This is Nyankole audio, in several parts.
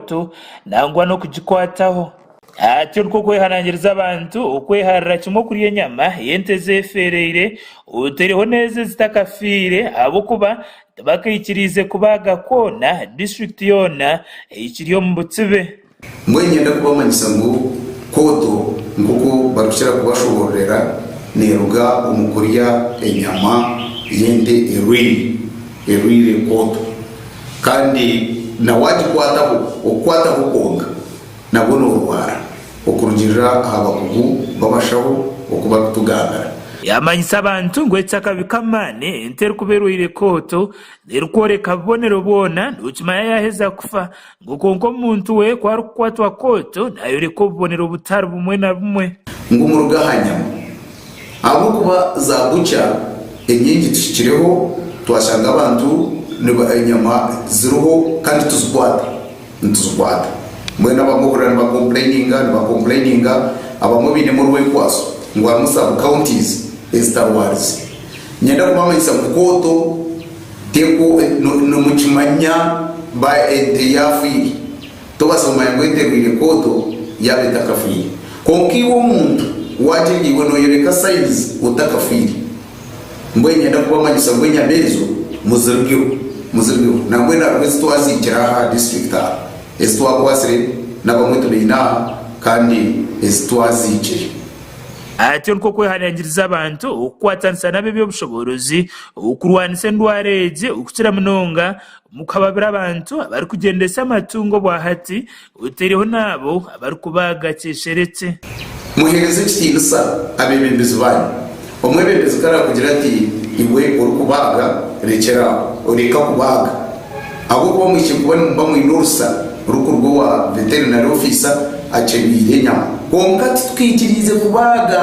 Kristo nangwa n'okugikwataho. Hati nikwo kwehanangiriza abantu okweharira kimwe okurya enyama y'ente ezefereire otereho n'ezo ezitakafiire ahabw'okuba tibakaikiriize kubaaga kwona district yoona ekiri omu butsibe. Mbwenu nyenda kubamanyisa ngu kooto nk'oku barikukira kubashobororera neruga omu kurya enyama y'ente erwaire. Erwaire enkooto kandi na waagikwataho okukwataho kwonka nabwo noorwara, okurugiirira aha bakugu b'abashaho oku barikutugambira. Yaamanyisa abantu ngu eki akabi k'amaani ente erikuba erwaire enkooto n'erikworeka bubonero bwona, nookimanya yaaheza kufa, Ngu kwonka omuntu we ku arikukwatwa kooto, naayoreka obubonero butari bumwe na bumwe. Ngu muruga aha nyama. Ahabw'okuba za butcher enyingi tuhikireho, twashanga abantu niba enyama ziriho kandi tituzikwata, nituzikwata. Mbwenu abamwe ohurira niba complaininga, niba complaininga, abamwe bainemu orwenkwaso ngu harimu sub counties ezitarwarize. Niinyenda kubamanyisa ngu kooto. Teku nomukimanya ba ente yafwire tobaasa kumanya ngu ente erwaire kooto yaaba etakafwire kwonka iwe omuntu wagyenda iwe noyoreka signs otakafwire mbwenu nyenda kubamanyisa ngu enyama ezo muzirgeho muzirgeho nambwenu hariho ezitwaziikire aha aha district aha ezitwakwatsire nabamwe tubaine aha kandi ezitwaziikire. Ati Nikwo kwehanangiriza abantu okukwatanisa n'ab'eby'obushoboorozi Okurwanisa endwara egi okukira munonga omu kuhababira abantu abarikugyendesa amatungo obwa hati oteireho naabo abarikubaaga kyeshereki. Muheereze ekitiinisa abeebembezi baanyu. Omwebembezi ku araakugire ati, Iwe orikubaaga, rekyera aho, reka kubaaga. Ahabw'okuba mwihikire kuba nimuba mwine orusa rukuruga owa veterinary ofiisa akyebiire enyama. Kwonka titukaikiriize kubaaga.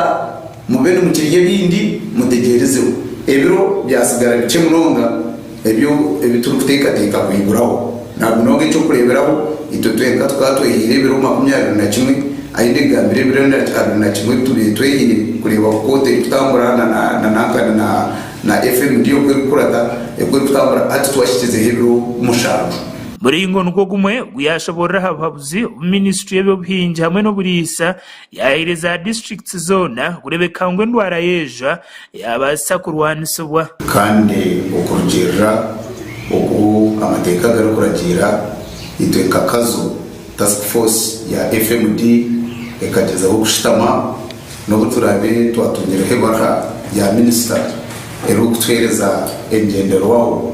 Mube nimukirya ebindi, mutegyerizeho. Ebiro byatsigara bikye munonga ebyo ebi turikuteekateeka kuhiguraho. Nabwo munonga eky'okureeberaho, itwe twenka tukaba twehaire ebiro makumi abiri na kimwe, ahi nigambira ebiro abiri na kimwe ebi tubaire twehaire kureeba oku kooti erikutambura na na nankani na na FMD oku erikukuraga oku erikutambura hati twahikyizeho ebiro mushanju. Muringo nigwo gumwe gu yaashoboorora aha buhabuzi obu minisitule y'eby'obuhingi hamwe n'oburiisa Yahaire za district zoona kurebeka ngu endwara y'ejwa yabaasisa kurwanisibwa. Kandi okurugiirira oku amateeka garikuragiira, itwe nka Kazo, Task Force ya FMD ekagyezaho kushutama n'obu turaabe twatungireho ebarura ya minisita erikutuheereza engyenderwaho.